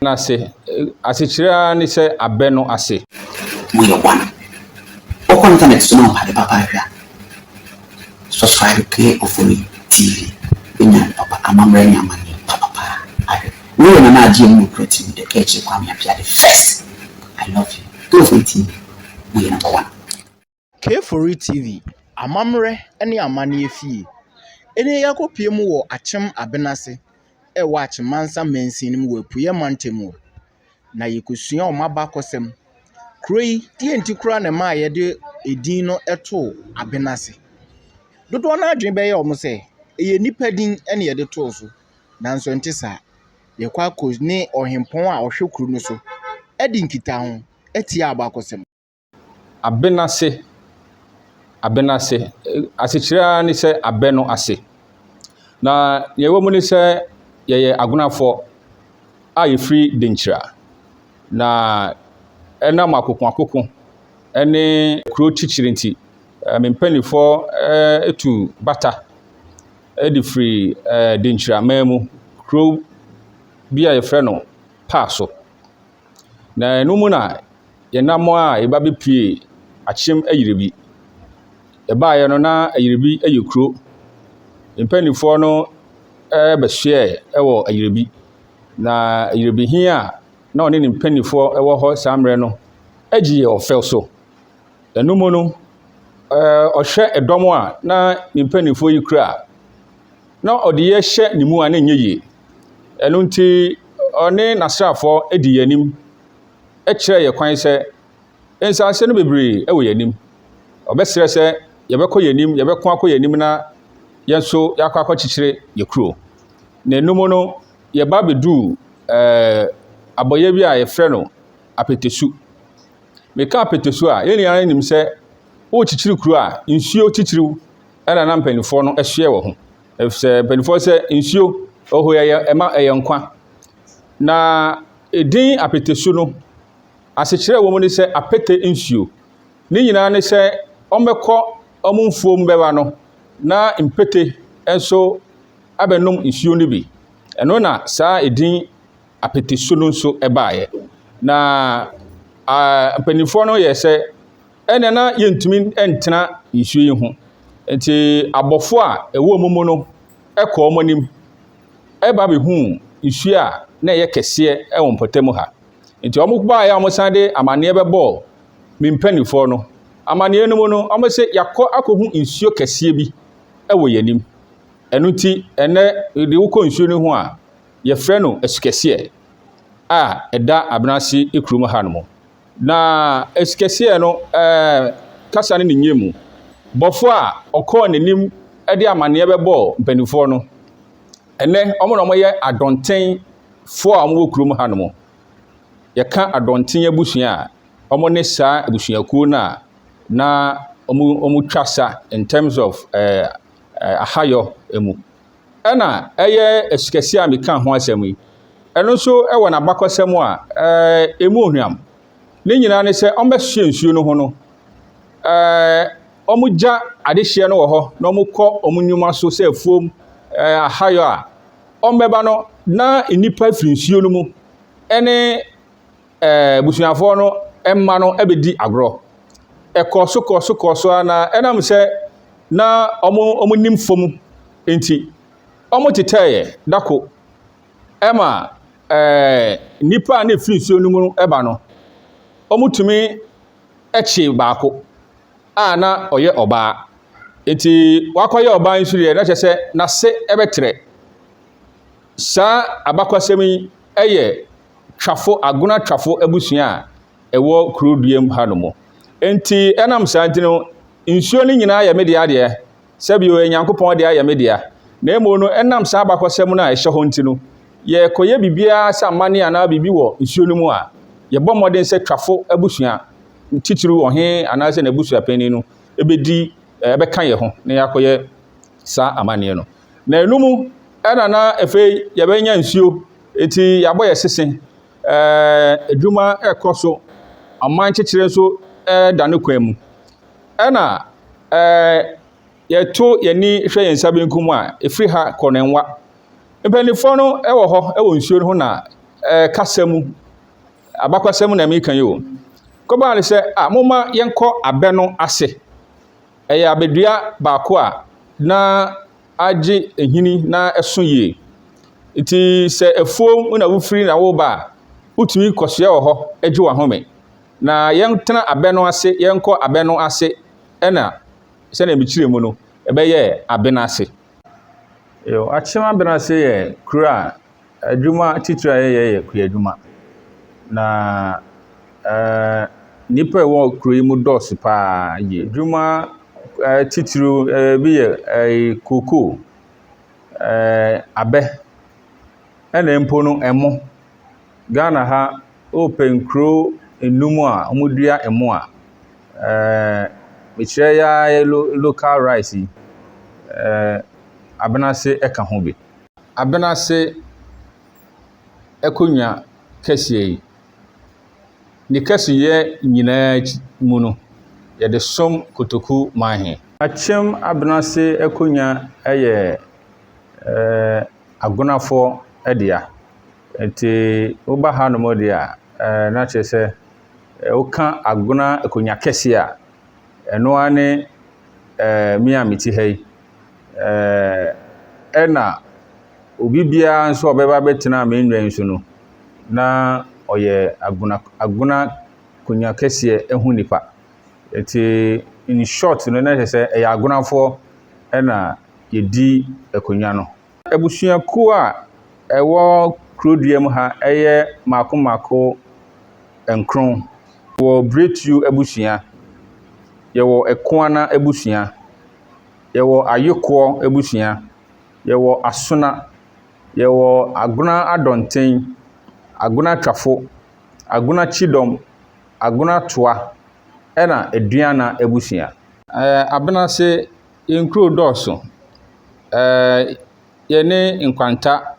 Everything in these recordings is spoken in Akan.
no ase. Asekyerɛ ara ne sɛ abɛ no ase. Moyɛ wan? Wokɔ ntanɛt so na wohwɛ ade papa ahwɛ a, subscribe Clay Ofori TV bɛnya ade papa, amammerɛ ne amanneɛ papa paa ahwɛ. Woyɛ Nana Agye Anim Nokora TV The Kɛɛkyire Kwame Appiah the first I love you Clay Ofori TV Moyɛ number one. Kefori TV, Amammerɛ ne Amanneɛ Fie. Nnɛ yi akɔpue mu wɔ Akyem Abena ase wɔ Akyem Mansa Mansin no mu wɔ Apueɛ Mantam mu. Na yɛkɔsua wɔn abakɔsɛm. Kuro yi, deɛ nti koraa na ɛmaa yɛde edin no too Abena ase. Dodoɔ no ara adwene bɛyɛ wɔn sɛ, ɛyɛ nnipa din na yɛde too so, nanso ɛnte saa. Yɛkɔ akɔ ne ɔhempɔn a ɔhwɛ kuro no so adi nkitaho atia abakɔsɛm. Abenase, abenase, asekyerɛ ara ne sɛ abɛ no ase. Na deɛ ɛwɔ mu ne sɛ yɛyɛ Agwenafoɔ a yɛfiri Denkyira. Na ɛnam akokoakoko ne kuro titire nti, me mpanimfoɔ tu bata de firi Denkyiraman mu, kuro bi a wɔfrɛ no Paa so. Na ɛno mu na yɛn nnammoa a yɛba bɛpuee akyem ayiribi. Yɛbaeɛ no, na ayiribi yɛ kuro. Yɛn mpanimfoɔ no bɛsoɛɛ wɔ ayiribi. Na ayiribi he a na ɔne ne mpanimfoɔ wɔ hɔ saa mmerɛ no gye yɛn ɔfɛw so. Ɛno mu no, ɛɛ ɔhwɛ dɔm a na ne mpanimfoɔ yi kura. na ɔde yɛ hyɛ ne mu a na ɛnyɛ yie. Ɛno nti, ɔne n'asraafoɔ di yɛn anim kyerɛ yɛn kwan sɛ nsase no bebree wɔ yɛn anim. Ɔbɛsrɛ sɛ yɛbɛkɔ yɛn anim, yɛbɛko akɔ yɛn anim na yɛn nso yɛakɔ akɔkyekyere yɛn kuro. Na ɛno mu no, yɛba abɛduu ɛɛ abɔeɛ bi a yɛfrɛ no apetesu. Meka apetesu a, yɛn nyinaa nim sɛ worekyekyere kuro a, nsuo titiriw ɛna na mpanimfoɔ no hyɛ wɔ ho ɛfisɛ mpanimfoɔ sɛ nsuo ɔhɔ yɛ ɛma ɛyɛ nkwa na edin apɛtɛsu no asekyerɛ wɔn ne sɛ apɛtɛ nsuo ne nyinaa ne sɛ wɔbɛkɔ wɔn mfuo mu bɛba no na mpɛtɛ nso abɛnom nsuo no bi ɛno na saa edin apɛtɛsu no nso ɛbaeɛ na mpanimfoɔ no yɛ sɛ. ɛnna na yɛntumi ntena nsuo yi ho. Enti abɔfo a ɛwɔ wɔn mu no kɔɔ wɔn anim ba bɛhuu nsuo a na ɛyɛ kɛseɛ wɔ mpɔtam ha. Enti wɔbaeɛ a wɔsan de amanneɛ bɛbɔɔ me mpanimfoɔ no. Amanneɛ no mu no, wɔse yɛakɔ akɔhu nsuo kɛseɛ bi wɔ yɛn anim. Ɛno nti, ɛnnɛ de wokɔ nsuo no ho a, yɛfrɛ no asukɛseɛ a ɛda Abenase kurom hanom. Na ɛsikasɛɛ no ɛɛ kasa ne ne nyɛ mu bɔfoɔ a ɔkɔɔ n'anim de amaneɛ bɛbɔɔ mpanimfoɔ no ɛnɛ wɔn na wɔyɛ adɔnten foɔ a wɔwɔ kurom ha nom yɛka adɔnten abusua a wɔn ne saa abusuakuo no a na wɔn wɔn twa sa in terms of ɛɛ ahayɔ mu. ɛna ɛyɛ sikasini a meka ho asɛm yi, ɛno nso wɔ n'abakɔsɛm a ɛɛ emu ohwam. Ne nyinaa ne sɛ wɔbɛsoɛ nsuo no ho no, ɛɛ wɔgya adehyeɛ no wɔ hɔ na wɔkɔ wɔn nnwuma so sɛ afuom ɛɛ ahayɔ a wɔbɛba no na nnipa firi nsuo no mu ɛne ɛɛ abusuafoɔ no mma no bɛdi agorɔ. Ɛkɔɔ so kɔɔ so kɔɔ so ara na ɛnam sɛ na wɔn wɔnim fam nti, wɔtetɛeɛ dako ma ɛɛ nnipa a na ɛfiri nsuo no mu ba no, wɔtumi kyee baako a na ɔyɛ ɔbaa. Enti wakɔyɛ ɔbaa nso deɛ, na kyerɛ sɛ n'ase bɛtrɛ. Saa abakɔsɛm yi yɛ twafo, agona twafo abusua a ɛwɔ kurow dua mu hanom. Enti ɛnam saa nti no, nsuo no nyinaa yɛ me dea deɛ, sɛbi o, Onyankopɔn dea yɛ me dea. Na mmom no, ɛnam saa abakɔsɛm no a ɛhyɛ hɔ nti no, yɛkɔyɛ biribiara sɛ amanne anaa biribi wɔ nsuo no mu a, yɛbɔ mmɔden sɛ twafo abusua, titiriw ɔhene anaasɛ n'abusuapanyin no, bɛdi, ɛbɛka yɛn ho na yɛakɔyɛ saa amanneɛ no. Na ɛno mu na na afei yɛbɛnya nsuo, eti yɛabɔ yɛ sese. Ɛɛ adwuma ɛkɔ so, aman kyekyere nso ɛda ne kwan mu. Ɛna ɛɛ yɛto yɛn ani hwɛ yɛn nsa benkum a, ɛfiri ha kɔ ne nwa. Mpanimfoɔ no wɔ hɔ wɔ nsuo no ho na ɛɛ kasa mu, abakwasɛm na meka yi o. Kɔbaa no sɛ, a momma yɛnkɔ abɛ no ase. Ɛyɛ abɛdua baako a na agye nhini na ɛso yie. Nti sɛ afuom na wofiri na woreba a, wotumi kɔsoɛ wɔ hɔ gye w'ahome. Na yɛntena abɛ no ase, yɛnkɔ abɛ no ase na sɛdeɛ mekyerɛ mu no, ɛbɛyɛ Abena ase. Yo, Akyem Abena ase yɛ kuro a. Adwuma titire a yɛyɛ yɛ kuadwuma, na ɛɛ nnipa a wɔwɔ kuro yi mu dɔɔso pa ara yie. Adwuma titire bi yɛ cocoa, ɛɛ abɛ, ɛna mpo no ɛmo. Ghana ha, wopɛ nkuro nnum a wɔdua ɛmo a, ɛɛ mekyerɛ yi ara yɛ local rice yi, ɛɛ Abenase ka ho bi. Abena ase akonnwa kɛseɛ yi, ne kɛseyɛ nyinaa akyi mu no, yɛde som kotoku man he. Akyem Abena ase akonnwa yɛ eh, Agonafoɔ dea. Nti woba hanom deɛ a, eh, na kyerɛ sɛ eh, woka Agona akonnwa kɛseɛ a, ɛno ara ne eh, me a mete ha yi, Ɛɛ, ɛna obi biara nso a ɔbɛba abɛtena me nnwan so no, na ɔyɛ agona agona konya kɛseɛ ho nipa. Ɛti, in short no, na kyerɛ sɛ ɛyɛ agonafoɔ na wɔdi akonnwa no. Abusuakuo a ɛwɔ kuro dua mu ha yɛ mmaako mmaako nkron. Yɛwɔ Biretuo abusua, yɛwɔ Ɛkoana abusua, yɛwɔ Ayekoɔ abusua, yɛwɔ Asona, yɛwɔ Agona Adɔnten, Agona Twafo, Agona Kyidɔm, Agona Toa, ɛna Aduana abusua. Ɛɛ Abenase, yɛn nkuro dɔɔso. Ɛɛ yɛne Nkwanta,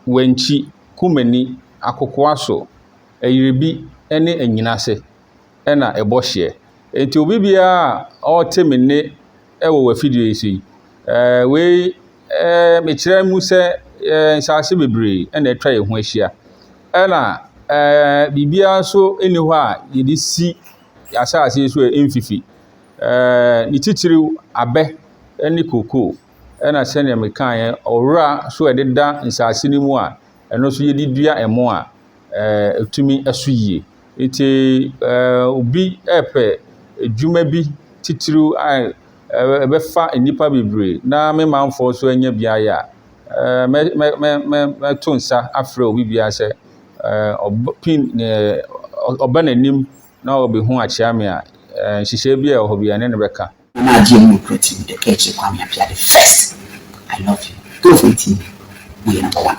Wankyi, Kumani, Akokowaso, Ayiribi ne Anyinase. na ɛbɔ hyeɛ. Nti obi biara a ɔte me nne wɔ w'afidie yi so yi, ɛɛ wei ɛɛ mekyerɛ mu sɛ ɛɛ nsaase bebree na atwa yɛn ho ahyia. Ɛna ɛɛ biribiara nso nni hɔ a yɛde si asaase yi so a ɛmfifi. Ɛɛ ne titiriw abɛ ne kokoo. Ɛna sɛdeɛ mekaeɛ ɔwora nso a ɛdeda nsaase no mu a ɛno nso yɛde dua ɛmo a ɛɛ ɛtumi so yie. Enti obi repɛ adwuma bi titiriw a ɛbɛfa nnipa bebree na me manfoɔ nso anya bi ayɛ a, mɛ mɛ mɛ mɛ mɛto nsa afrɛ obi biara sɛ ɔbɛpem ɔba n'anim na ɔbɛhu akyea me a, nhyehyɛeɛ bi a ɛwɔ hɔ bi ɛne no bɛka. Na na agye mu nokura ti mu dɛ ka akyire Kwame Appiah the first I love you girls ne ti mu woyɛ number one.